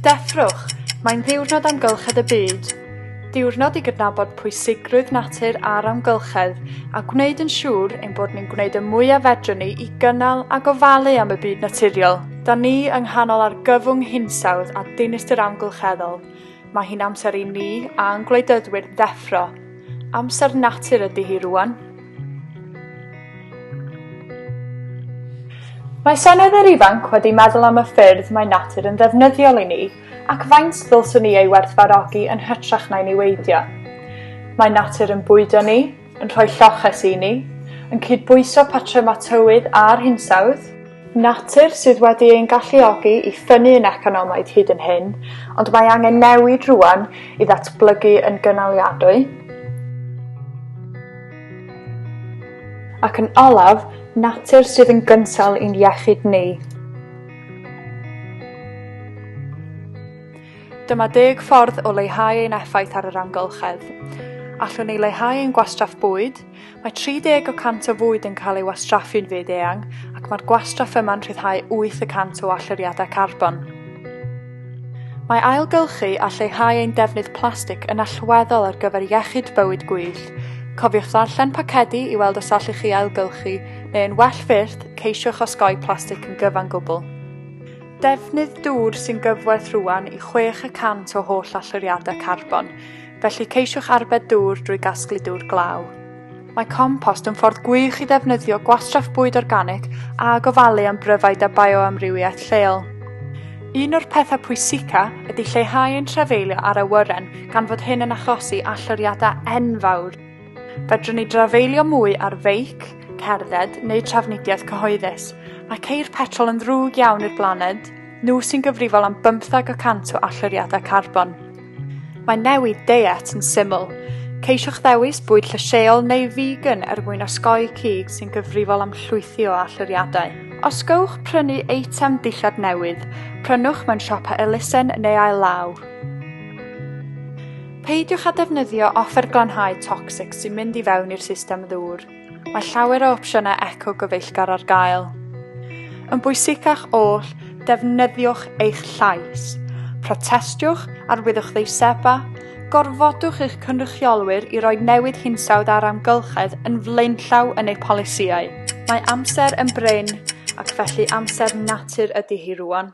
Deffrwch! Mae'n Ddiwrnod Amgylchedd y Byd. Diwrnod i gydnabod pwysigrwydd natur a'r amgylchedd a gwneud yn siŵr ein bod ni'n gwneud y mwyaf fedrwn ni i gynnal a gofalu am y byd naturiol. Da ni yng nghanol argyfwng hinsawdd a dinistr amgylcheddol. Mae hi'n amser i ni a'n gwleidyddwyr ddeffro, Amser natur ydy hi rwan. Mae senedr ifanc wedi meddwl am y ffyrdd mae natur yn ddefnyddiol i ni ac faint ddylswn ni ei werthfarogi yn hytrach na'i niweidio. Mae natur yn bwydo ni, yn rhoi lloches i ni, yn cydbwyso patrymau tywydd a'r hinsawdd, Natur sydd wedi ein galluogi i ffynnu yn economaidd hyd yn hyn, ond mae angen newid rwan i ddatblygu yn gynaliadwy. Ac yn olaf, natur sydd yn gynsail i'n iechyd ni. Dyma deg ffordd o leihau ein effaith ar yr amgylchedd. Allwn ni leihau ein gwastraff bwyd, Mae 30 o cant o fwyd yn cael ei wastraffu'n fyd eang ac mae'r gwastraff yma'n rhyddhau 8 y cant o allyriadau carbon. Mae ailgylchu a lleihau ein defnydd plastig yn allweddol ar gyfer iechyd bywyd gwyllt. Cofiwch ddarllen pacedi i weld os allwch chi ailgylchu, neu yn well fyth, ceisiwch osgoi plastig yn gyfan gwbl. Defnydd dŵr sy'n gyfwerth rwan i chwech y cant o holl allyriadau carbon. felly ceisiwch arbed dŵr drwy gasglu dŵr glaw. Mae compost yn ffordd gwych i ddefnyddio gwastraff bwyd organic a gofalu am bryfaid a bioamrywiaeth lleol. Un o'r pethau pwysica ydy lleihau ein trafeilio ar awyren gan fod hyn yn achosi alloriadau enfawr. Fedrwn ni drafeilio mwy ar feic, cerdded neu trafnidiaeth cyhoeddus. Mae ceir petrol yn ddrwg iawn i'r blaned, nhw sy'n gyfrifol am bymthag y cant o alloriadau carbon. Mae newid deiet yn syml. Ceisiwch ddewis bwyd llysieuol neu vegan er mwyn osgoi cig sy'n gyfrifol am llwythi o allyriadau. Os gowch prynu eitem dillad newydd, prynwch mewn siopa elusen neu ail law. Peidiwch â defnyddio offer glanhau tocsig sy'n mynd i fewn i'r system ddŵr. Mae llawer o opsiynau eco gyfeillgar ar gael. Yn bwysicach oll, defnyddiwch eich llais. Protestiwch, arwyddwch ddeisebau, gorfodwch eich cynrychiolwyr i roi newid hinsawdd a'r amgylchedd yn flaenllaw yn eu polisïau. Mae amser yn brin, ac felly amser natur ydy hi rwan.